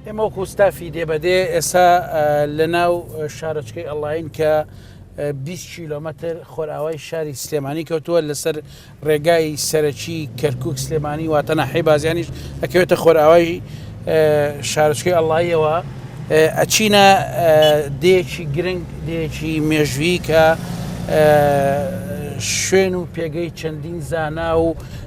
ئێمە وەکو ستافی دێبەدێ ئێستا لە ناو شارۆچکەی ئەڵین کە 20 کیلۆمەتر خۆراوای شاری سلێمانی کەوتووە لەسەر ڕێگای سەرەکی کەرکک سلێمانی واتەنا حیبازیانیش ئەکەوێتە خۆراوای شارچکەی ئەڵایەوە ئەچینە دێکی گرنگ دێکی مێژویی کە شوێن و پێگەی چەندین زانا و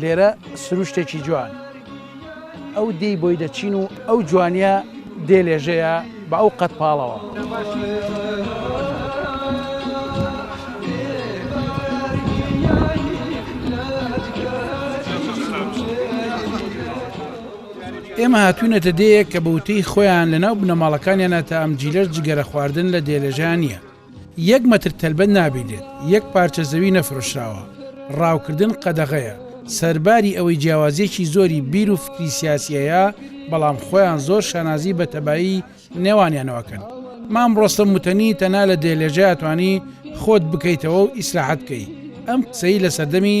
لێرە سروشتێکی جوان ئەو دێی بۆی دەچین و ئەو جوانیە دێ لێژەیە بە ئەو قەت پاڵەوە. ئێمە هاتوینەتە دێیەک کە بە وتەی خۆیان لە ناو بنەماڵەکانیانە تا ئەم جیلەش جگەرە خواردن لە دێلێژان نییە. یەک مەتر تەلبەت نابینرێت، یەک پارچە زەوی نەفرۆشراوە، ڕاوکردن قەدەغەیە، سەرباری ئەوەی جیاوازیەکی زۆری بیر و فکری سیاسی هەیە، بەڵام خۆیان زۆر شانازی بە تەبایی نێوانیانەوە ئەکەن. مام ڕۆستەم متەنی تەنها لە دێلێژەیا توانی خۆت بکەیتەوەو ئیسراحەت بکەی، ئەم قسەی لە سەردەمی،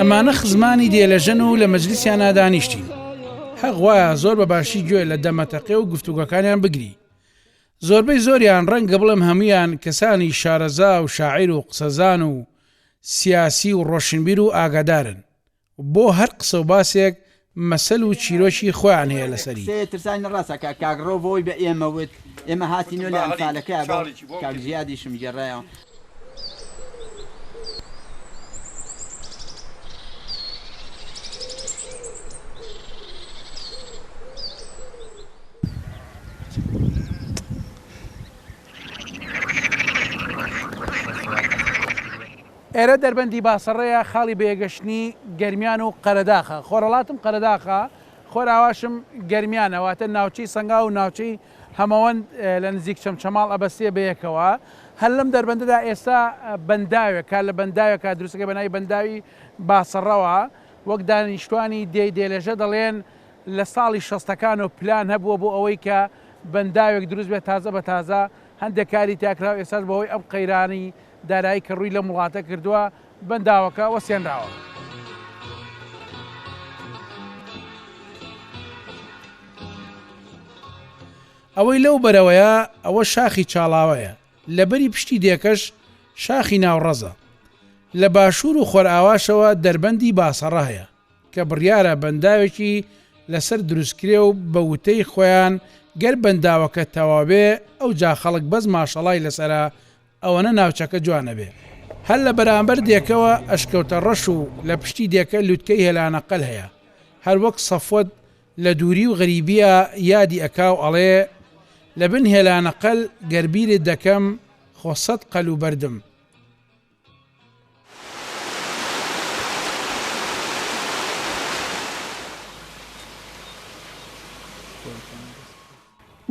ئەمانە خزمانی دێلەژەن و لە مەجلیسیانا دانیشتین هەق وایە زۆر بە باشی گوێ لە دەمەتەقێ و گفتوگەکانیان بگری زۆربەی زۆریان ڕەنگە بڵێم هەمویان کەسانی شارەزا و شاعیر و قسەزان و سیاسی و ڕۆشنبیر و ئاگادارن بۆ هەر قسە و باسێک مەسەل و چیرۆکی خۆیان هەیە لەسەری. قسەیە ترساوی نە ڕاستە کە کاک ڕەوف ئەوەی بە ئێمە وت ئێمە هاتین و لە ئەنفالەکەیا بۆ کاک زیادیشم گێڕایەوە. ئێرە دەربەندی باسەڕەیە، خاڵی بەیەگەشتنی گەرمیان و قەرەداخە. خۆرهەڵاتم قەرەداخە، خۆراواشم گەرمیانە، واتە ناوچەی سەنگاو و ناوچەی هەمەوەند لە نزیک چەمچەماڵ ئەبەستێ بەیەکەوە. هەر لەم دەربەندەدا ئێستا بەنداوێک کار لە بەنداوێکە دروستەکەی بە ناوی بەنداوی باسەڕەوە. وەک دانیشتوانی دێی دێلێژە دەڵێن لە ساڵی شەستەکانەوە پلان هەبووە بۆ ئەوەی کە بەنداوێک دروست بێت تازە بە تازە هەندێک کاری تیا کراو ئێستاش بەهۆی ئەم قەیرانی دارایی کە ڕووی لەم وڵاتە کردووە بەنداوەکە وەستێنراوە. ئەوەی لەو بەرەوەیە ئەوە شاخی چاڵاوەیە، لە بەری پشتی دێکەش شاخی ناوڕەزە. لە باشوور و خۆرئاواشەوە دەربەندی باسەڕە هەیە، کە بڕیارە بەنداوێکی لەسەر دروستکرێ و بە وتەی خۆیان گەر بەنداوەکە تەواوبێ ئەوجا خەڵک بەس ماشەڵای لەسەرە ئەوەنە ناوچەکە جوان ئەبێ. هەر لە بەرامبەر دێکەوە ئەشکەوتە ڕەش و لە پشتی دێکە لوتکەی هێلانە قەل هەیە. هەر وەک سەفوەت لە دووری و غەریبیا یادی ئەکا و ئەڵێ، لە بن هێلانە قەل گەر بیرت دەکەم خۆ سەد قەل و بەردم.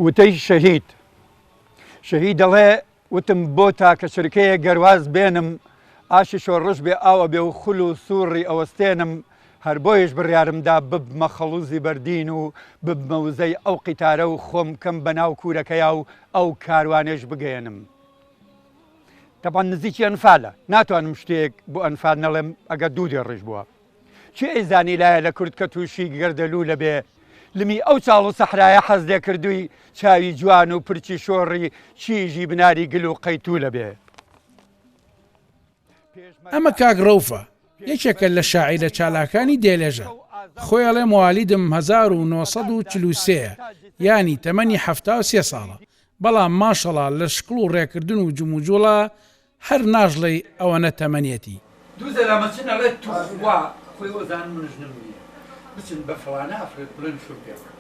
وتەی شەهید. شەهید دەڵێ، وتم بۆ تاکە چرکەیەک گەر واز بێنم، ئاشی شۆڕش بێ ئاو ئەبێ و خول و سووڕی ئەوەستێنم، هەر بۆیەش بڕیارم دا ببمە خەڵووزی بەردین و ببمە وزەی ئەو قیتارە و خۆم بکەم بە ناو کوورەکەیا و ئەو کاروانەیش بگەیەنم. تەبعەن نزیکی ئەنفالە، ناتوانم شتێک بۆ ئەنفال نەڵێم، ئەگەر دوو دێڕیش بووە. کێ ئەیزانی لایە لە کورد کە تووشی گەردەلوولە بێ لمی ئەو چاڵ و سەحرایە حەز لێ کردووی چاوی جوان و پرچی شۆڕی چیژی بناری گل و قەیتوولە بێ. ئەمە کاک ڕەوفە یەکێکە لە شاعیرە چالاکانی دێلێژە خۆی ئەڵێ موالیدم هەزار و نۆ سەد و چل و سێ ە یانی تەمەنی حەفتا و سێ ساڵە بەڵام ماشەڵا لە شکڵ و ڕێکردن و جموجوڵە هەر ناژڵێی ئەوەنە تەمەنیەتی. دوو زەلامە چن ئەڵێ توخوا خۆی ئۆزانم من ژنم نیە بچن بە فڵانە ئەفرەت بڵێن شوم پێ بکە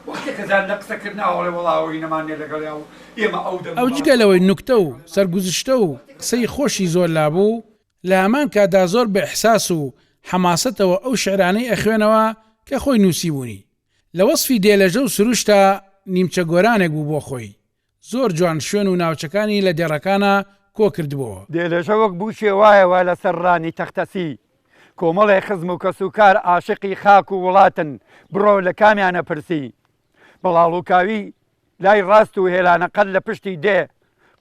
وەختێ کە زان لە قسە کردن ئاو ئەڵێ وەڵا ئەوەی نەمان نیە لەگەڵیا و ئێمە ئەو دەم ئەو جگە لەوەی نوکتە و سەرگوزشتە و قسەی خۆشی زۆر لابوو لە هەمان کاتدا زۆر بە ئیحساس و حەماسەتەوە ئەو شعرانەی ئەخوێنەوە کە خۆی نوسیبوونی لە وەسفی دێلەژە و سروشتا نیمچە گۆرانێک بوو بۆ خۆی زۆر جوان شوێن و ناوچەکانی لە دێڕەکانا کۆ کردبۆوە. دێلێژە وەک بووکێ وایە وا لە سەر ڕانی تەختەسی. کۆمەڵێ خزم و کەس و کار عاشقی خاک و وڵاتن بڕۆ لە کامیانە پرسی. بڵاڵوکاوی لای ڕاست و هێلانە قەر لە پشتی دێ.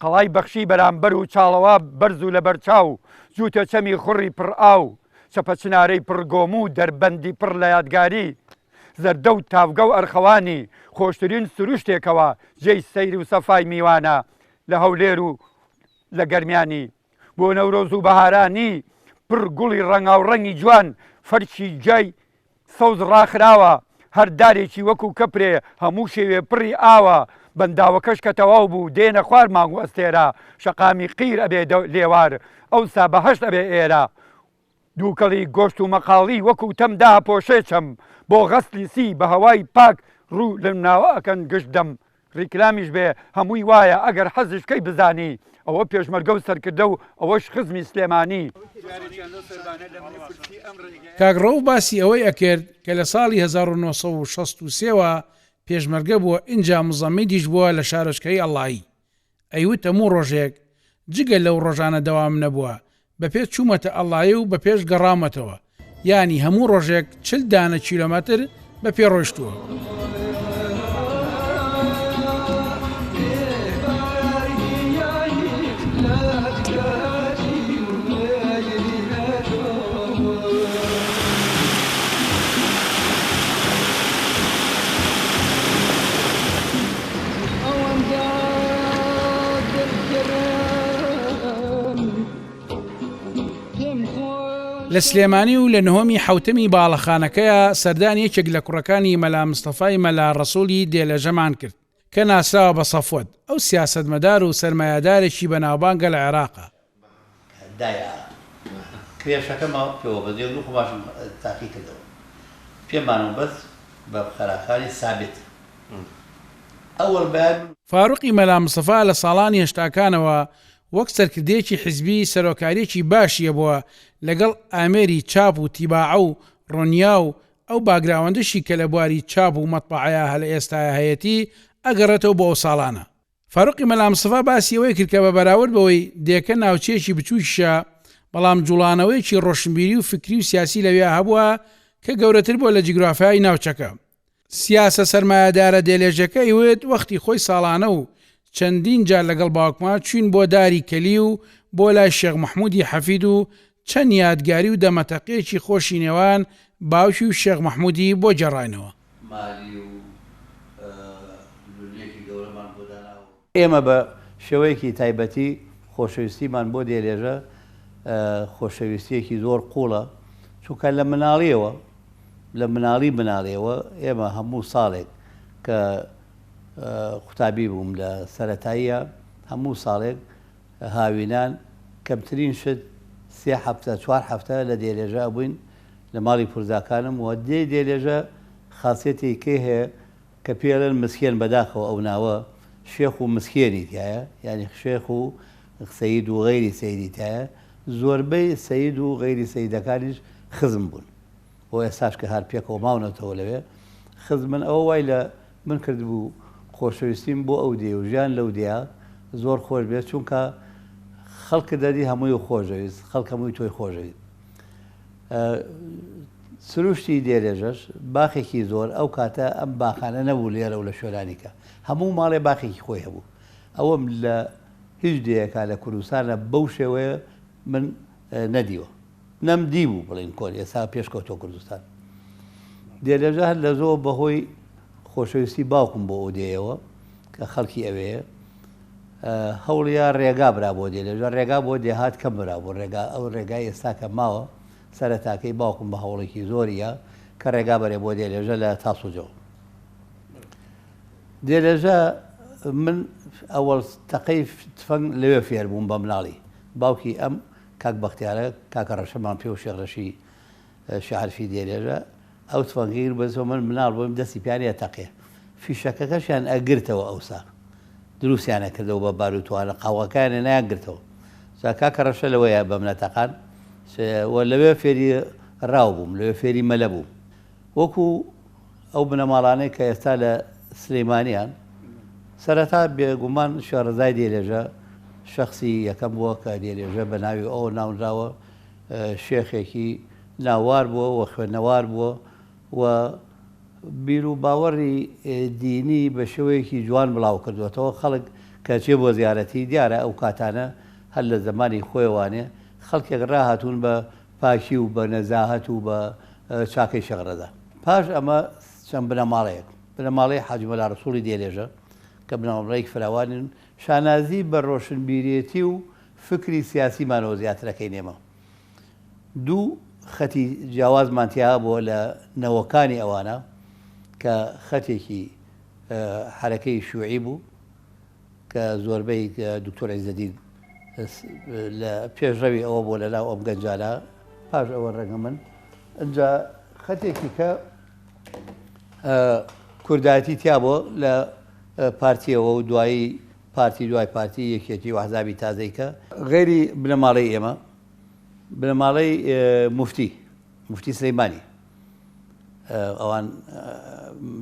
قەڵای بەخشی بەرامبەر و چاڵەوا بەرز و لەبەر چاو جووتە چەمی خوڕی پڕ ئاو. چەپە چنارەی پڕ گۆم و دەربەندی پڕ لە یادگاری. زەردە و تاڤگە و ئەرخەوانی خۆشترین سروشتێکەوە جێی سەیر و سەفای میوانە لە هەولێر و لە گەرمیانی بۆ نەورۆز و بەهارانی پڕ گوڵی ڕەنگاوڕەنگی جوان فەرشی جای سەوز ڕاخراوە هەر دارێکی وەکو کەپرێ هەموو شێوێ پڕی ئاوە بەنداوەکەش کە تەواو بوو دێنە خوار مانگ و ئەستێرە شەقامی قیر ئەبێ لێوار ئەوسا بەهەشت ئەبێ ئێرە دووکەڵی گۆشت و مەقاڵی وەکوو تەم داپۆشێ چەم بۆ غەسلی سی بە هەوای پاک ڕوو لەم ناوە ئەکەن گشت دەم ڕیکلامیش بێ هەمووی وایە ئەگەر حەزیش کەی بزانی ئەوە پێشمەرگە و سەرکردە و ئەوەش خزمی سلێمانی. کاک ڕەوف باسی ئەوەی ئەکرد کە لە ساڵی هەزار و نۆ سەد و شەست و سێ وە پێشمەرگە بووە ئینجا مزەمیدیش بووە لە شارۆچکەی ئەڵایی ئەیوت هەموو ڕۆژێک جگە لەو ڕۆژانە دەوام نەبووە بەپێ چوومەتە ئەڵاێ و بەپێش گەڕاومەتەوە یانی هەموو ڕۆژێک چل دانە کیلۆمەتر بە پێ ڕۆشتووە. ئەوەندە دڵگرم پێم خۆش لە سلێمانی و لە نهۆمی حوتەمی باڵەخانەکەیە سەردان یەکێک لە کوڕەکانی مەلا مستەفای مەلا ڕەسوڵی دێلەژەمان کرد کە ناسراوە بە سەفوەت ئەو سیاسەتمەدار و سەرمایەدارێکی بەناوبانگە لە عێراقا دایە کرێشەکە ماوە پێوە بەس یەک دوو قوماشم تاقی کردەوە پێ مانەوە بەس بە خەراکانی سابت ئەوەڵ بەیان. فاروقی مەلا مستەفا لە ساڵانی هەشتاکانەوە وەک سەرکردەیەکی حیزبی سەرۆکاریەکی باشی هەبووە لەگەڵ ئامێری چاپ و تیباعە و ڕۆنیا و ئەو باگراوەندەشی کە لە بواری چاپ و مەتبەعەیا هەلە ئێستایا هەیەتی ئەگەڕێتەوە بۆ ئەو ساڵانە فاروقی مەلا مستەفا باسی ئەوەی کرد کە بە بەراورد بەوەی دێکە ناوچەیەکی بچووکیشە بەڵام جوڵانەوەیەکی ڕۆشنبیری و فکری و سیاسی لەویا هەبووە کە گەورەتر بووە لە جیگرافیای ناوچەکە. سیاسە سەرمایەدارە دێلێژەکە ئەیوت وەختی خۆی ساڵانە و چەندین جار لەگەڵ باوکما چووین بۆ داری کەلی و بۆ لای شێخ مەحموودی حەفید و چەند یادگاری و دەمەتەقێکی خۆشی نێوان باوکی و شێخ مەحموودی بۆ گێڕاینەوە. مالی و لولیەکی گەورەمان بۆ داناوە. ئێمە بە شێوەیەکی تایبەتی خۆشەویستیمان بۆ دێلێژە خۆشەویستیەکی زۆر قوڵە، چونکە لە مناڵیەوە لە مناڵی مناڵیەوە ئێمە هەموو ساڵێک کە قوتابی بووم لە سەرەتاییە هەموو ساڵێک هاوینان کەمترین شت سێ هەفتە چوار هەفتە لە دێلێژە ئەبووین لە ماڵی پورزاکانم و دێی دێلێژە خاسیەتێکی کەی هەیە کە پێی ئەڵێن مسکێن بەداخەوە ئەو ناوە شێخ و مسکێنی تیایە یانی شێخ و سەید و غەیری سەیدی تایە زۆربەی سەید و غەیری سەیدەکانیش خزم بوون بۆ ئێستاش کە هەر پێکەوە ماونەتەوە لەوێ خزمن ئەوە وای لە من کردبوو خۆشەویستیم بۆ ئەو دێ و ژیان لەو دێیە زۆر خۆش بێت چونکە خەڵکە دەدی هەمووی و خۆشەویست خەڵکە مووی تۆی خۆشەویست سروشتی دێرێژەش باخێکی زۆر ئەو کاتە ئەم باخانە نەبوو لێرە و لە شوێنانیکە هەموو ماڵێ باخێکی خۆی هەبوو ئەوەم لە هیچ دەیەکە لە کوردستانە بەو شێوەیە من نەدیوە نەم دیبوو بڵین کۆن ئێسا پێش کەوتوە کوردستان دێ لەژە هەر لە زۆ بەهۆی خۆشەویستی باوکم بۆ ئەودێیەوە کە خەڵکی ئەوێ هەوڵیا ڕێگا برا بۆ دێ لەژە ڕێگا بۆ دێهات کەم برا بۆ ڕێگا ئەو ڕێگای ئێستا کە ماوە سەرەتاکەی باوکم بە هەوڵێکی زۆریە کە ڕێگا بەرێ بۆ دێ لەژە لە تاسوجەوە دێ لەژە من ئەوەڵ تەقەی تفەنگ لەوێ فێر بووم بە مناڵی باوکی ئەم کاک بەختیارە کاکە ڕەشە مام پێ و شێخ ڕەشی شاعرشی دێرێژە ئەو تفەنگەی گرت بەس من مناڵ بووم دەستی پێیان ئەتەقێ فیشەکەکەشیان ئەگرتەوە ئەوسا دروستیان ئەکردەوە بە بار و توانە قاوغەکانیان نایانگرتەوە جا کاکە ڕەشە لەوەیە بەم نەتەقان و لەوێ فێری ڕاو بووم لەوێ فێری مەلە بووم وەکو ئەو بنەماڵانەی کە ئێستا لە سلیمانیان سەرەتا بێگومان شێڕزای دێلێژە شەخسی یەکەم بووە کە دێلێژە بە ناوی ئەو ناونراوە شێخێکی ناوار بووە و خوێنەوار بووە و بیر و باوەڕی دینی بە شێوەیەکی جوان بڵاو کردوێتەوە خەڵک کەچێ بۆ زیارەتی دیارە ئەو کاتانە هەر لە زمانی خۆێوانێ خەڵکێک ڕاهاتوون بە پاکی و بە نەزاهەت و بە چاکەی شێخ ڕەزا. پاش ئەمە چەند بنەماڵەیەک، بنەماڵەی حاجی مەلا ڕەسووڵی دێلێژە کە بنەماڵەیەکی فراوانن، شانازی بە ڕۆشنبیرێتی و فکری سیاسیمانەوە زیاتر ئەکەین ئێمە. دوو خەتی جیاوازمان تیا هەبووە لە نەوەکانی ئەوانە کە خەتێکی حەرەکەی شیوعی بوو، کە زۆربەی دکتۆر عیزەدین لە پێشڕەوی ئەوە بۆ لەناو ئەم گەنجانە پاش ئەوە ڕەنگە من ئەجا خەتێکی کە کوردایەتی تیا بۆ لە پارتیەوە و دوایی پارتی دوای پارتی یەکێتی و عذابی تازەیکە غێری بنەماڵی ئێمە بنەماڵی مفتی مفتی سلەیمانی ئەوان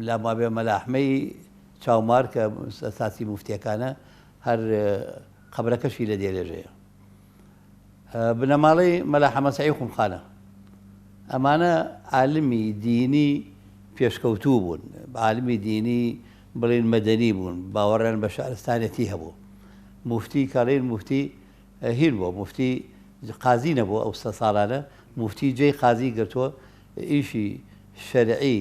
لامابێ مەلاحمەی چاومار کە ساتی موفتیەکانە هەر قەبرەکەشی لە دێلێژەیە بنەماڵەی مەلا حەمە سەعی خومخانە ئەمانە عالمی دینی پێشکەوتوو بوون عالمی دینی بڵین مەدەنی بوون باوەڕیان بە شارستانەتی هەبوو مفتی کاڵین مفتی هین بۆ مفتی قازی نەبوو ئەو سە ساڵانە مفتی جێی قازی گرتووە ئیشی شەرعی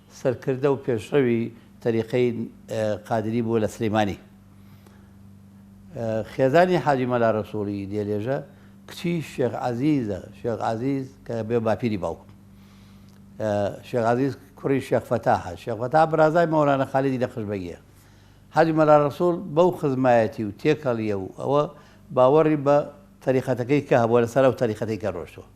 سەرکردە و پێشڕەوی تەریقەی قادری بووە لە سلیمانی. خێزانی حاجی مەلا رەسوڵی دێلێژە کچی شێخ عەزیزە، شێخ عەزیز کە بێ باپیری باوکم. شێخ عەزیز کوڕی شێخ فەتاحە، شێخ فەتاح برازای مەولانە خالیدی نەقش بەگیە. حاجی مەلا رەسوڵ بەو خزمایەتی و تێکەڵیە و ئەوە باوەڕی بە تەریقەتەکەی کە هەبووە لەسەر ئەو تەریقەتەی کە رۆشتووە.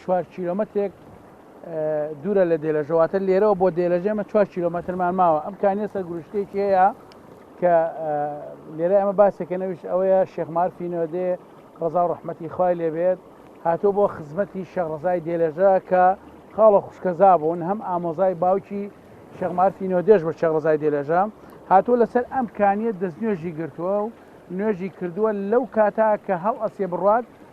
چوار کیلۆمەترێک دوورە لە دێلەژە واتە لێرەوە بۆ دێلەژێ ئەمە چوار کیلۆمەترمان ماوە ئەم کانیە سەرگروشتێکی هەیە کە لێرە ئەمە باسێکە نەویش ئەوەیە شێخمارفینەوەدێ ڕزا و ڕحمەتی خوای لێبێت هاتۆ بۆ خزمەتی شەڕزای دێلەژە کە خاڵە خوشکەزا بوون هەم ئامۆزای باوکی شەغمارفی نۆدێش بە شەڕزای دێلەژە هاتۆ لەسەر ئەم کانیە دەستنوێژی گرتووە و نوێژی کردووە لەو کاتا کە هەڵ ئەسێ بڕات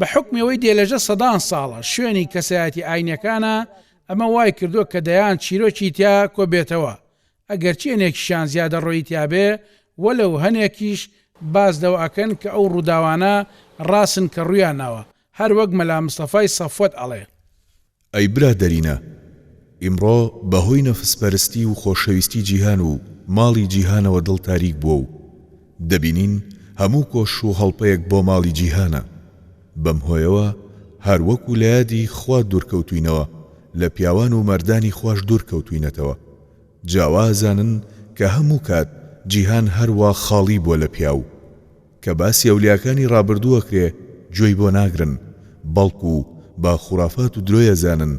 بە حوکمی ئەوەی دێلەژە سەدان ساڵە شوێنی کەسایەتی ئاینیەکانە ئەمە وای کردوە کە دەیان چیرۆکی تیا کۆ بێتەوە ئەگەرچی هەنێکیشان زیادە ڕۆیی تیا بێ وەلەو هەنێکیش باس لەوە ئەکەن کە ئەو ڕوداوانە ڕاسن کە ڕویان ناوە هەر وەک مەلا مستەفای سەفوەت ئەڵێ. ئەی برادەرینە ئیمڕۆ بەهۆی نەفس پەرستی و خۆشەویستی جیهان و ماڵی جیهانەوە دڵ تاریک بووە و دەبینین هەموو کۆش و هەڵپەیەک بۆ ماڵی جیهانە بەم هۆیەوە هەر وەکو لەیادی خوا دوورکەوتوینەوە لە پیاوان و مەردانی خواش دوور کەوتوینەتەوە جا وازانن کە هەموو کات جیهان هەر وا خاڵی بووە لە پیاو کە باسی ئەولیاکانی ڕابردوو ئەکرێ گوێی بۆ ناگرن بەڵکو بە خورافات و درۆی ئەزانن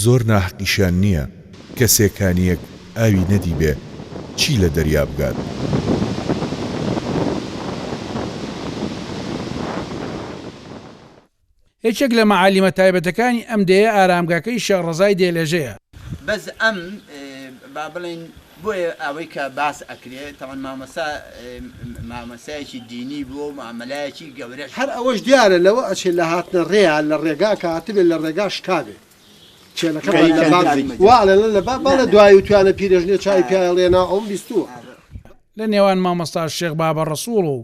زۆر ناحەقیشیان نیە کەسێ کانیەک ئاوی نەدیبێ چی لە دەریا بگات. یەکێک لە مەعالیمە تایبەتەکانی ئەم دێیە ئارامگاکەی شێخ ڕەزای دێلێژەیە. بەس ئەم با بڵێین بۆیە ئەوەی کە باس ئەکرێ تاوان مامۆستا مامۆستایەکی دینی بووە و مامەلایەکی گەورەش هەر ئەوەش دیارە لەوە ئەچێ لە هاتنە ڕێیا لە ڕێگا کە هاتبێ لە ڕێگا شکابێ چێلەکە بەر لە باب وا ئەڵێ لە لە باب با لە دوایی وتویانە پیرێژنێ چاوی پیایەڵ یە نا ئەوم بیستووە. لە نێوان مامۆستا شێخ بابە ڕەسووڵ و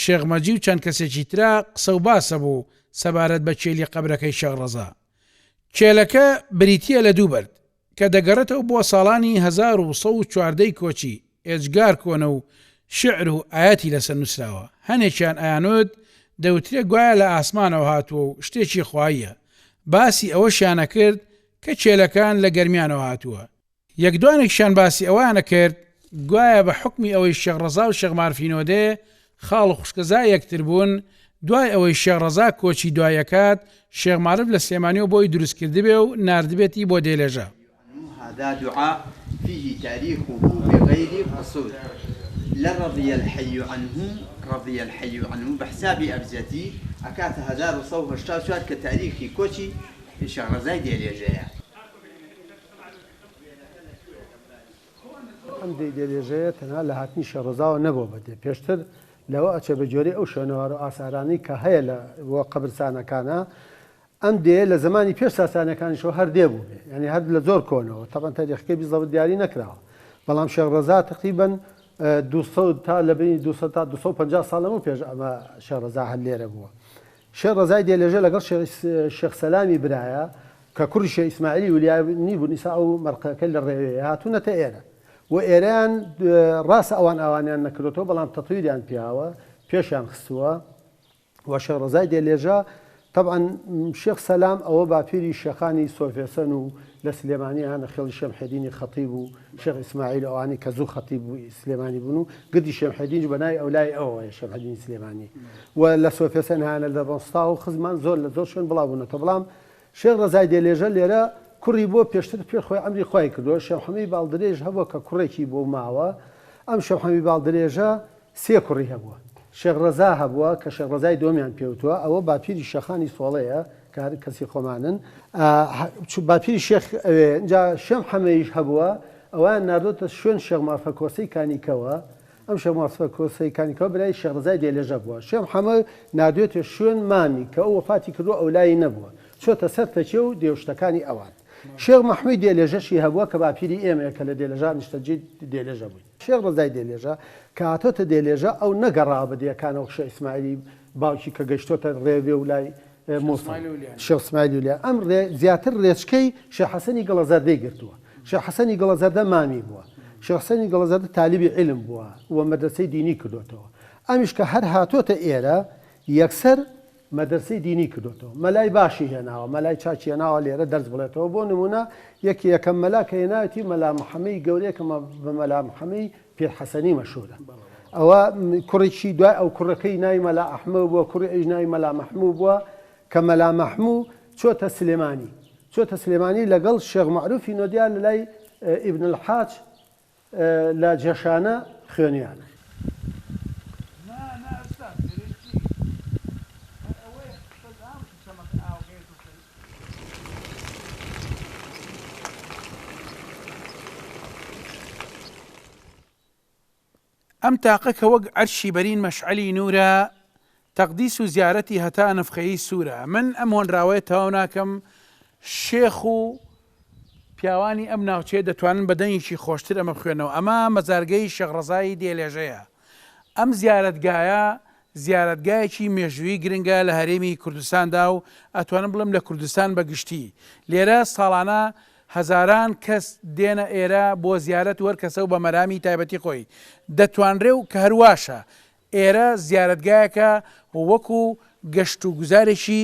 شێخ مەجی و چەند کەسێکی ترا قسە و باسە بوو سەبارەت بە کێلی قەبرەکەی شێخ ڕەزا. کێلەکە بریتییە لە دوو بەرد، کە دەگەڕێتەوە بۆ ساڵانی هەزار و سەد و چواردە ی کۆچی، ئێجگار کۆنە و شیعر و ئایەتی لەسەر نووسراوە، هەنێکیان ئەیانوت دەوترێ گوایە لە ئاسمانەوە هاتووە و شتێکی خواییە، باسی ئەوەشیانەکرد کە کێلەکان لە گەرمیانەوە هاتووە، یەک دوانێکشیان باسی ئەوەیان ئەکرد گوایە بە حوکمی ئەوەی شێخ ڕەزا و شێخ مارفینۆدێ خاڵ و خوشکەزای یەکتر بوون، دوای ئەوەی شێخ ڕەزا کۆچی دوایی ئەکات، شێخ مارف لە سلێمانیەوە بۆی دروست کردبێ و ناردبێتی بۆ دێلێژە. یعنی هذا دعاء فیه تاریخه بغیر قصور لە رضی الحی عنه رضی الحی عنه بە حسابی ئەبجەدی ئەکاتە هەزار و سەد و هەشتا و چوار کە تاریخی کۆچی شێخ ڕەزای دێلێژەیە. ئەم دێی دەلێژەیە تەنها لە هاتنی شێڕۆزاوە نەبووە بە دێ، پێشتر لەوە ئەچێ بە گوێرەی ئەو شوێنەوار و ئاسارانەی کە هەیە لە و قەبرسانەکانا. ئەم دێیە لە زەمانی پێش ساسانیەکانیشەوە هەر دێ بووبێ، یانی هەر لە زۆر کۆنەوە، تەبعەن تەریخەکەی بزەبت دیاری نەکراوە، بەڵام شێخ ڕەزا تەقریبەن دوو سەد تا لە بەینی دوو سەد تا دوو سەد و پەنجا ساڵ لەمەو پێش ئەمە شێخ ڕەزا هەر لێرە بووە. شێخ ڕەزای دێلێژە لەگەڵ شێخ سەلامی برایە کە کوڕی شێخ ئیسماعیلی ولیانی بوون ئیسا ئەو مەرقەکە لە ڕێوێیە هاتوونەتە ئێرە و ئێرەیان ڕاستە ئەوان ئاوانیان نەکردۆتەوە بەڵام تەتویریان پیاوە پێشیان خستووە و شێخ ڕەزای دێلێژە تەبعەن شێخ سەلام ئەوە باپیری شێخانی سۆفێسەن و لە سلێمانی هانە خێڵی شێمحێدینی خەتیب و شێخ ئیسماعیل و ئەوانەی کە زوو خەتیب و سلێمانی بوون و گردی شێمحێدینش بە ناوی ئەولای ئەوەوەیە شێمحێدینی سلێمانی و لە سۆفێسەنهایانە لە ڕۆنستا و خزمان زۆر لە زۆر شوێن بڵاو بوونەتەوە بڵام شێخ ڕەزای دێلێژە لێرە کوڕی بووە پێشتر پێ خۆی عەمری خوای کردووە شێمحەمەی باڵدرێژ هەبووە کە کوڕێکی بۆ ماوە ئەم شێمحەمی باڵدرێژە سێ کوڕی هەبووە. شێخ ڕەزا هەبووە کە شێخ ڕەزای دووەمیان پێوتووە، ئەوە باپیری شێخانی سۆڵەیە کە هەر کەسی خۆمانن. باپیری شێخ ئەوێ. ئینجا شێم حەمەیش هەبووە، ئەویان ناردۆتە شوێن شێخ مافە کۆسەی کانیکەوە. ئەم شێخ مافە کۆسەی کانیکەوە برای شێخ ڕەزای دێلێژە بووە. شێم حەمە ناردوێتە شوێن مامی کە ئەو وەفاتی کردووە ئەو لای نەبووە. چۆتە سەر تەکیە و دێوشتەکانی ئەوان. شێخ مەحمووی دێلێژەشی هەبووە کە باپیری ئێمەیە کە لە دێلێژا نیشتەجێی دێلێژە بووین. شێخ ڕەزای دێلێژە کە هاتۆتە دێلێژە ئەو نەگەڕاوە بە دێیەکانەوە شێخ ئیسماعیلی باوکی کە گەیشتۆتە ڕێوێ و لای موسڵ شێخ ئیسماعیلی و لای ئەم ڕێ زیاتر ڕێچکەی شێخ حەسەنی گڵە زەردەی گرتووە شێخ حەسەنی گڵە زەردە مامی بووە شێخ حەسەنی گڵە زەردە تالیبی عیلم بووە و مەدرەسەی دینی کردۆتەوە ئەمیش کە هەر هاتۆتە ئێرە یەکسەر مەدرسەی دینی کردۆتەوە مەلای باشی هێناوە مەلای چاکی هێناوە لێرە دەرس بڵێتەوە بۆ نمونە یەکی یەکەم مەلا کە هێناویەتی مەلا محەمەی گەورەیە کە بە مەلا محەمەی پیر حەسەنی مەشهورە ئەوە کوڕێکی دوای ئەو کوڕەکەی ناوی مەلا ئەحمە بووە کوڕی ئەویش ناوی مەلا مەحموو بووە کە مەلا مەحموو چۆتە سلێمانی چۆتە سلێمانی لەگەڵ شێخ معروفی نۆدیا لە لای ئیبن الحاج لە جەشانە خوێنیان. ئەم تاقە کە وەک عەرشی بەرین مەشعەلی نوورە تەقدیس و زیارەتی هەتا نەفخەیی سوورە من ئەم هۆنراوەیە تەواو ناکەم شێخ و پیاوانی ئەم ناوچەیە دەتوانن بە دەنگێکی خۆشتر ئەمە بخوێنەوە ئەمە مەزارگەی شێخ ڕەزای دێلێژەیە ئەم زیارەتگایە زیارەتگایەکی مێژوویی گرنگە لە هەرێمی کوردستاندا و ئەتوانم بڵێم لە کوردستان بە گشتی، لێرە ساڵانە هەزاران کەس دێنە ئێرە بۆ زیارەت و هەر کەسە و بە مەرامی تایبەتی خۆی دەتوانرێ و کە هەرواشە ئێرە زیارەتگایەکە وەکوو گەشت و گوزارێکی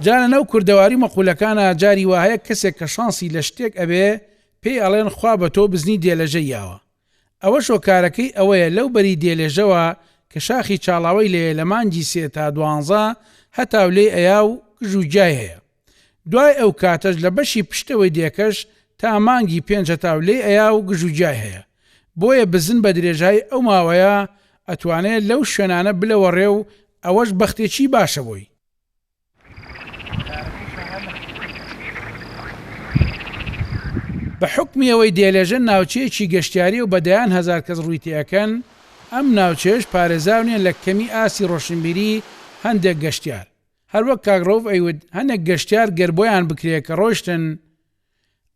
جا لە ناو کوردەواری و مەقولەکانا جاری واهەیە کەسێک کە شانسی لە شتێک ئەبێ پێی ئەڵێن خوا بە تۆ بزنی دێلەژە یاوە ئەوەش هۆکارەکەی ئەوەیە لەو بەری دێلێژەوە کە شاخی چاڵاوەی لێیە لە مانگی سێ تا دوانزە هەتاو لێی ئەیا و گژ و گیای هەیە دوای ئەو کاتەش لە بەشی پشتەوەی دێکەش تا مانگی پێنج هەتاو لێی ئەیا و گژ و گیای هەیە بۆیە بزن بە درێژایی ئەو ماوەیە ئەتوانێ لەو شوێنانە بلەوەڕێ و ئەوەش بەختێکی باشە بۆی. بە حوکمی ئەوەی دێلێژە ناوچەیەکی گەشتیاریە و بە دەیان هەزار کەس ڕووی تێ ئەکەن، ئەم ناوچەیەش پارێزاو نیە لە کەمی ئاستی ڕۆشنبیری هەندێک گەشتیار، هەروەک کاک رەوف ئەیوت هەنێک گەشتیار گەر بۆیان بکرێ کە رۆشتن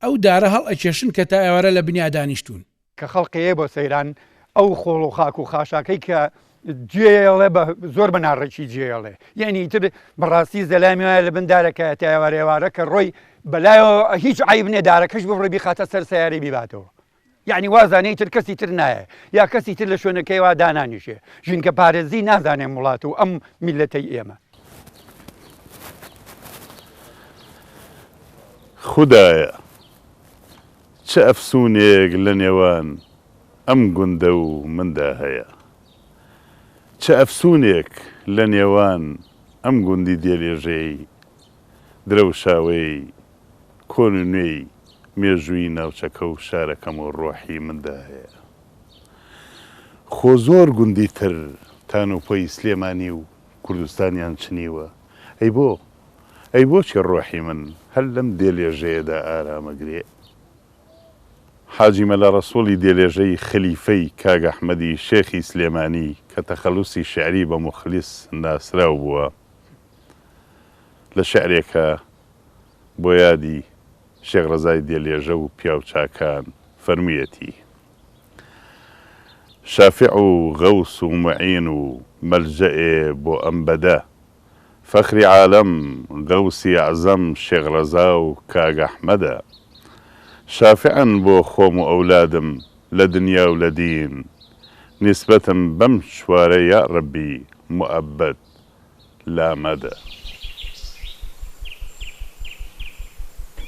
ئەو دارە هەڵ ئەکێشن کە تا ئێوارە لە بنیا دانیشتوون. کە خەڵق ئەیێ بۆ سەیران ئەو خۆڵ و خاک و خاشاکەی کە جێیەڵێ بە زۆر بە ناڕێکی جێیەڵێ یەعنی ئیتر بە ڕاستی زەلامی وایە لە بن دارەکایە تا ئێوارە ئێوارە کە ڕۆی بە لایەوە هیچ عەیب نیە دارەکەش ببڕێ بیخاتە سەر سەیارەی بیباتەوە. یەعنی وازانێ ئیتر کەسی تر نایێ یا کەسی تر لە شوێنەکەیوا دانانیشێ، ژینگە پارێزی نازانێ وڵات و ئەم میللەتەی ئێمە. خودایە چ ئەفسونێک لە نێوان ئەم گوندە و مندا هەیە، چ ئەفسونێک لە نێوان ئەم گوندی دێلێژەی درەوشاوەیەی کۆن و نوێی مێژووی ناوچەکە و شارەکەم و ڕۆحی مندا هەیە. خۆ زۆر گوندی تر تان و پۆی سلێمانی و کوردستانیان چنیوە، ئەی بۆ؟ ئەی بۆچی ڕۆحی من هەر لەم دێلێژەیەدا ئارام ئەگرێ؟ حاجی مەلا ڕەسووڵی دێلێژەی خەلیفەی کاک ئەحمەدی شێخی سلێمانی کە تەخەلوسی شیعری بە موخلیس ناسراو بووە، لە شعرێکە بۆ یادی شێخ ڕەزای دێلێژە و پیاوچاکان فەرموویەتی، شافع و غەوس و موعین و مەلجەئێ بۆ ئەم بەدە، فەخری عالەم، غەوسی ئەعزەم شێخ ڕەزا و کاک ئەحمەدە. شافعن بۆ خۆم و ئەولادم لە دنیا و لە دین، نیسبەتم بەم چوارە یاڕەبی موئەبەد. لا مەدە.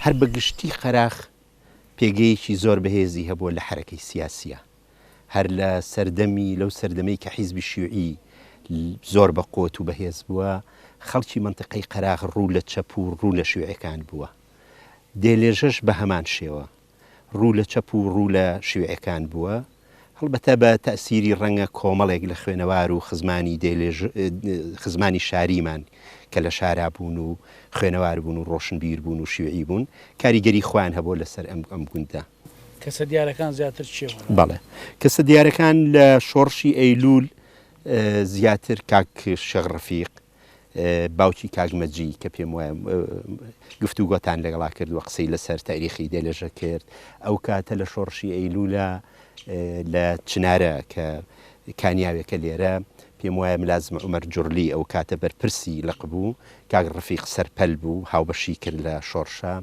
هەر بە گشتی قەراخ پێگەیەکی زۆر بەهێزی هەبووە لە حەرەکەی سیاسییە. هەر لە سەردەمی، لەو سەردەمەی کە حیزبی شیوعی زۆر بە قوت و بەهێز بووە، خەڵکی مەنتقەی قەراخ ڕوو لە چەپ و ڕوو لە شیوعیەکان بووە. دێلێژەش بە هەمان شێوە. ڕوو لە چەپ و ڕوو لە شیوعیەکان بووە، هەڵبەتە بە تەئسیری ڕەنگە کۆمەڵێک لە خوێنەوار و خزمانی دێلێژ خزمانی شاریمان کە لە شارا بوون و خوێنەوار بوون و ڕۆشنبیر بوون و شیوعی بوون کاریگەری خۆیان هەبووە لە سەر ئەم ئەم گوندە. کەسە دیارەکان زیاتر چیە بۆ لات؟ بەڵێ کەسە دیارەکان لە شۆڕشی ئەیلوول زیاتر کاک شێخ ڕەفیق، باوکی کاک مەجی کە پێم وایە گفتوگۆتان لەگەڵا کردووە قسەی لەسەر تاریخی دێلێژە کرد ئەو کاتە لە شۆڕشی ئەیلولا لە چنارە کە کانیاوێکە لێرە پێم وایە ملازم عمر جرلی ئەو کاتە بەرپرسی لەق بوو کاک ڕفیق سەرپەل بوو هاوبەشی کرد لە شۆڕشە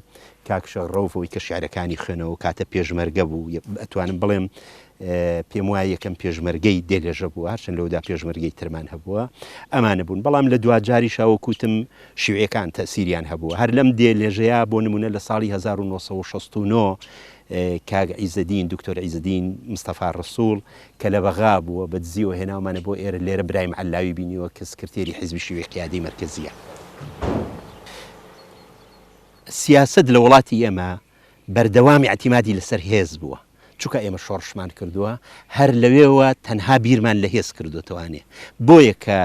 کاکشە ڕەوەوەی کە شعرەکانی خوێنەوە کاتە پێشمەرگە بوو ئەتوانم بڵێم پێموایە یەکەم پێشمەرگەی دێگەژە بووە، هەرچەند لەوەدا پێشمەرگەی ترمان هەبووە، ئەمانە بوون، بەڵام لە دواجاریشا وەک وتم شیوعیەکان تەئسیریان هەبووە، هەر لەم دێلێژەیا بۆ نموونە لە ساڵی هەزار و نۆ سەد و شەست و نۆ کاک عیزەدین، دکتۆر عیزەدین مستەفا رەسوڵ، کە لە بەغا بووە، بە دزیەوە هێناومانە بۆ ئێرە، لێرە برایم عەللاوی بینیوە کە سکرتێری حیزبی شیوعی قیادەی مەرکەزیە. سیاسەت لە وڵاتی ئێمە بەردەوام ئیعتیمادی لەسەر هێز بووە. چونکە ئێمە شۆڕشمان کردووە هەر لەوێوە تەنها بیرمان لە هێز کردوتەوانێ بۆیە کە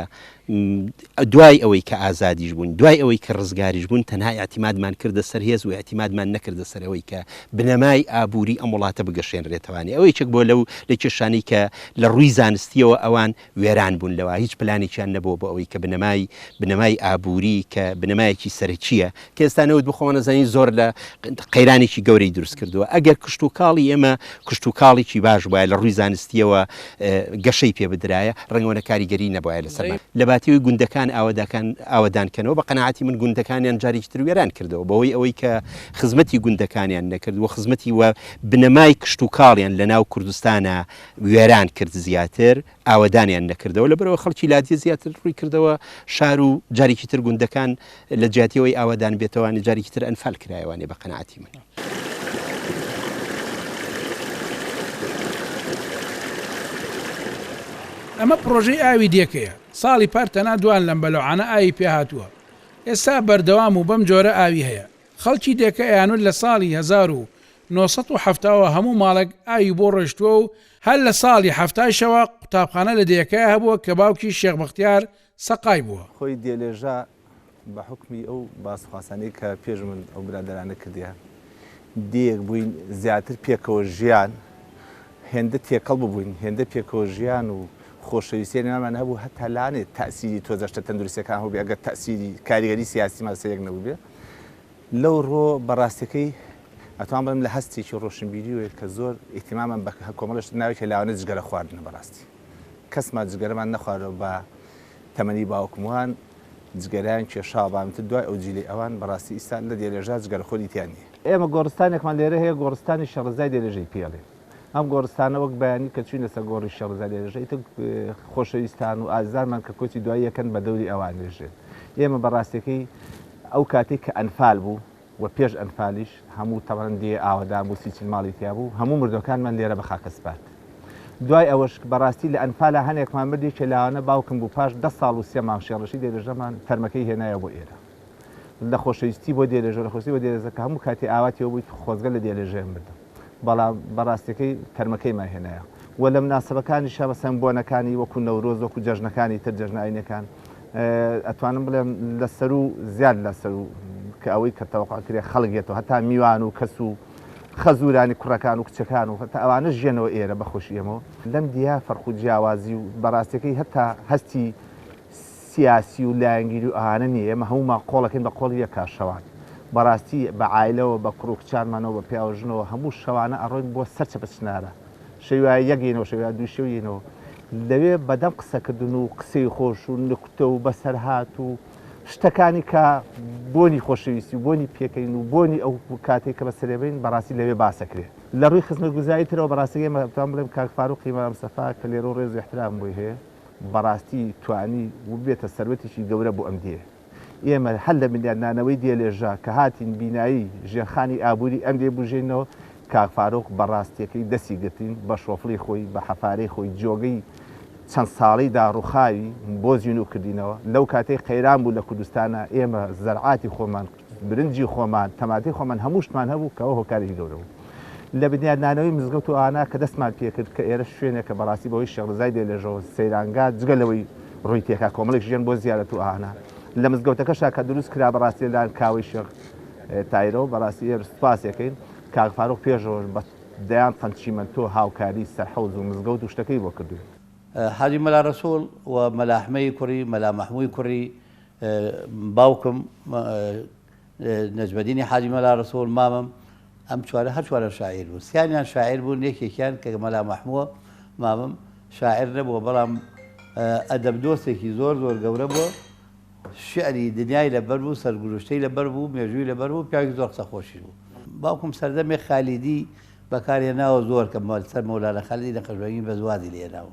دوای ئەوەی کە ئازادیش بوون دوای ئەوەی کە ڕزگاریش بوون تەنها یاعتیمادمان کردە سەر هێز و یاعتیمادمان نەکردە سەرەوەی کە بنەمای ئابووری ئەم وڵاتە بگەشێنرێتوانێ ئەوەی چەک بۆ لەو لە کێشانی کە لە ڕووی زانستیەوە ئەوان وێران بوون لەوە هیچ پلانێکیان نەبووە بۆ ئەوەی کە بنەمای بنەمای ئابووری کە بنەمایەکی سەرەکییە کە ئێستا نەوت بۆ خۆمان دەزانین زۆر لە قەیرانێکی گەورەی دروست کردووە ئەگەر کشتوکاڵی ئێمە کشتوکاڵێکی باش بووە لە ڕووی زانستیەوە گەشەی پێ بدرایە ڕەنگەوەنە کاریگەری نەبایە لەسەر لە باتیوی گوندەکان ئاواداکان ئاوادانکەنەوە بە قەنەعاتی من گوندەکانیان جارێکی تر وێران کردەوە بەوەی ئەوەی کە خزمەتی گوندەکانیان نەکردووە خزمەتی وە بنەمای کشتوکاڵیان لە ناو کوردستانە وێران کرد زیاتر ئاوەدانیان نەکردەوە لەبەرەوە خەڵکی لادیە زیاتر ڕووی کردەوە شار و جارێکی تر گوندەکان لە جیاتیەوەی ئاوادان بێتەوانی جارێکی تر ئەنفال کرایوانێ بە قەنەعاتی من. ئەمە پڕۆژەی ئاوی دێکەیە ساڵی پار تەنها دوان لەم بەلەعانە ئاوی پێهاتووە ئێستا بەردەوام و بەم جۆرە ئاوی هەیە خەڵکی دێکە ئەیانوت لە ساڵی هەزار و نۆ سەد و حەفتا وە هەموو ماڵێک ئاوی بۆ ڕۆیشتووە و هەر لە ساڵی حەفتایشەوە قوتابخانە لە دێکە هەبووە کە باوکی شێخ بەختیار سەقای بووە. خۆی دێلێژا بە حوکمی ئەو باسخواسانەی کە پێش من ئەو برادەرانە کردیان دێیەک بووین زیاتر پێکەوە ژیان هێندە تێکەڵ ببووین هێندە پێکەوە ژیان و خۆشەویستیی نێوانمان هەبوو هەتا لانێ تەئسیری تۆزەشتە تەندروستییەکان هەبووبێ ئەگەر تەئسیری کاریگەری سیاسیمان سەیرێک نەبووبێ. لەو ڕووە بە ڕاستیەکەی ئەتوان بڵێم لە هەستێکی ڕۆشنبیریەوەی کە زۆر ئیهتیمامم بە کۆمەڵە شت ناوێت کە لاوانە جگەرە خواردنە بە ڕاستی کەسمان جگەرەمان نەخوارەوە بە تەمەنی باوکم وان جگەرەیان کێشاوە بەڵام ئیتر دوای ئەو جیلەی ئەوان بە ڕاستی ئیستا لە دێلێژا جگەرەخۆری تیا نییە. ئێمە گۆڕستانێکمان لێرە هەیە گۆڕستانی شێخ ڕەزای دێلێژەی پێ ئەڵێن. ئەم گۆڕستانە وەک بەیانی کە چووینە سەر گۆڕی شێڕزەلێژ، ئیتر خۆشەویستان و ئازیزانمان کە کۆچی دوایی ئەکەن بە دەوری ئەوانێژێن. ئێمە بە ڕاستییەکەی ئەو کاتەی کە ئەنفال بوو و پێش ئەنفالیش هەموو تەبعەن دێیە ئاوەدان بوو، سی چل ماڵی تیا بوو، هەموو مردووەکانمان لێرە بە خاکە سپارد. دوای ئەوەش بە ڕاستی لە ئەنفالا هەنێکمان مرد یەکێ لاوانە باوکم بوو پاش دە ساڵ و سێ مانگ شێڕشی دێلێژەمان تەرمەکەی هێنایەوە بۆ ئێرە. نەخۆشەویستی بۆ دێلێژە و نەخۆشەویستی بۆ دێلێزە کە هەموو کاتێ ئاواتیەوە بووی خۆزگە لە دێلێژەیەم بردم بەڵام بە ڕاستیەکەی تەرمەکەی ما هێنایە و لە مناسبەکانیشە مەسەن بۆنەکانی وەکو نەورۆز وەکو جەژنەکانی تر جەژنە ئاینەکان ئەتوانم بڵێم لە سەرو زیاد لە سەرو کە ئەوەی کە تەوەقع کرێ خەڵک یێتەوە هەتا میوان و کەس و خەزورانی کوڕەکان و کچەکان و هەتا ئەوانە ژێنەوە ئێرە بەخۆشی ئێمەوە لەم دیە فەرق و جیاوازی و بەڕاستیەکەی هەتا هەستی سیاسی و لایەنگیری و ئەوانە نیە ئێمە هەموومان قۆڵەکەین بە قۆڵی یەک کار شەوان بەڕاستی بە عایلەوە بە کوڕ و کچانمانەوە بە پیاو و ژنەوە هەموو شەوانە ئەڕۆین بۆ سەر چەپە چنارە شەوی وایە یەک یەینەوە شەوی وایە دوو شەو یەینەوە لەوێ بەدەم قسەکردن و قسەی خۆش و نکتە و بەسەرهات و شتەکانی کە بۆنی خۆشەویستی و بۆنی پێکەین و بۆنی ئەو کاتێک کە بە سەرێبین بەڕاستی لەوێ باسەکرێ لە ڕووی خزمەتگوزاری ترەوە بەڕاستی ئێمە دەتوانم بڵێم کاک فاروقی مەلا مستەفا کە لێرە و ڕێز و ئیحترامم بۆی هەیە بەڕاستی توانی و ببێتە سەروەتێکی گەورە بۆ ئەم دێیە. ئێمە هەر لە بنیات نانەوەی دێ لێژە کە هاتین بینایی ژێرخانی ئابووری ئەم دێ بوژێینەوە، کاک فاروق بە ڕاستیەکەی دەستی گرتین، بە شۆفڵی خۆی، بە حەفارەی خۆی جۆگەی چەند ساڵەی داڕوخاوی بۆ زینوو کردینەوە، لەو کاتەی قەیران بوو لە کوردستانا ئێمە زەرعاتی خۆمان، برنجی خۆمان، تەماتەی خۆمان هەموو شتمان هەبوو کە ئەوە هۆکارێکی گەورە بوو لە بنیادنانەوەی مزگەوت و ئانا کە دەستمان پێکرد کە ئێرە شوێنێکە بەڕاستی بەهۆی شێخ رزای بێ لێژە و سەیرانگا جگە لەوەی رووی تێکا کۆمەڵێک ژیان بۆ زیارەت و ئانا لە مزگەوتەکەشا کە دروست کرا بەڕاستی لە لایەن کاوەی شێخ تایرەوە بەڕاستی ئێرە سوپاسێکەین کاک فاروق پێشەوەش بە دەیان تەن چیمەنتۆ هاوکاری سەرحەوز و مزگەوت و شتەکەی بۆ کردووین. حاجی مەلا رەسوڵ و مەلا حمەی کوڕی مەلا مەحمووی کوڕی باوکم نەجمەدینی حاجی مەلا ڕەسوڵ، مامم، ئەم چوارە هەر چوارە شاعیر بوون. سیانیان شاعیر بوون، یەکێکیان کە مەلا مەحمووە، مامم، شاعیر نەبووە، بەڵام ئەدەبدۆستێکی زۆر زۆر گەورە بووە، شیعری دنیای لەبەر بوو، سەرگوزشتەی لەبەر بوو، مێژووی لەبەر بوو، پیاوێکی زۆر قسەخۆشیش بوو. باوکم سەردەمێک خالیدی بەکار هێناوە زۆر کە سەر مەولانا خالیدی نەقشبەندی بەس وازی لێ هێناوە.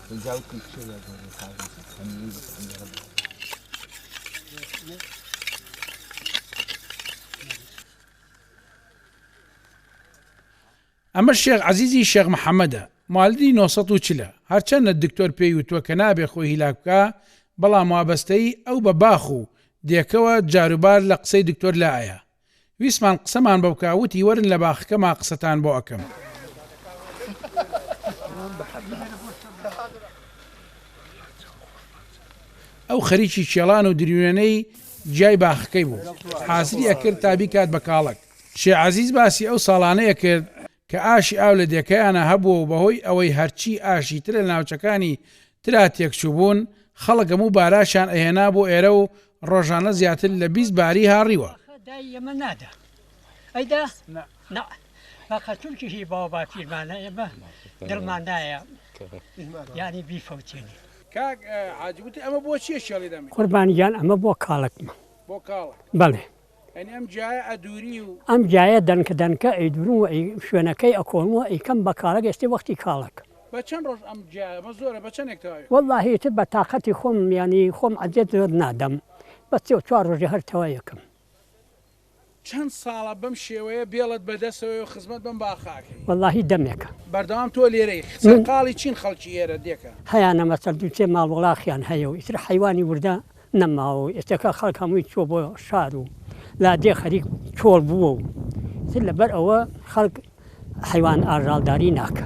ئەمە شێخ عەزیزی شێخ محەممەدە مالدی 940 هەرچەندە دکتۆر پێی وتووە کە نابێ خۆی هیلاک بکە بەڵام وابەستەی ئەو بە باخ و دێکەوە جاروبار لە قسەی دکتۆر لایە ویستمان قسەمان بە بکا وتی وەرن لە باخەکەما قسەتان بۆ ئەکەم. ئەو خەریکی کێڵان و دروێنەی جیای باخەکەی بوو حازری ئەکرد تا بیکات بە کاڵەک شێ عەزیز باسی ئەو ساڵانەیە کرد کە ئاشی ئاو لە دێکەیانا هەبووە و بەهۆی ئەوەی هەرچی ئاشی ترە لە ناوچەکانی ترا تێکچووبوون، خەڵک هەموو باراشیان ئەهێنا بۆ ئێرە و ڕۆژانە زیاتر لە بیست باری هاڕیوە. قوربان گیان ئەمە بۆ کاڵەکمە. بەڵێ ئەم جایە دەنکە دەنکە ئەی دورم و ئەی شوێنەکەی ئەکۆم و ئەیکەم بە کاڵەک ئێستێ وەختی کاڵەک. وەڵڵا هی تر بە تاقەتی خۆم یانی خۆم عەزێت زۆر نادەم بەس سێ و چوار ڕۆژێ هەر تەوای ئەکەم. وەڵڵا هی دەمێکە. هەیانە مەسەل دوو سێ ماڵ وڵاخیان هەیە و ئیتر حەیوانی وردە. نەماوە و ئێستەکە خەڵک هەمووی چووە بۆ شار و لادێ خەریک چۆڵ بووە و تر لەبەر ئەوە خەڵک حەیوان ئاژاڵداری ناکە.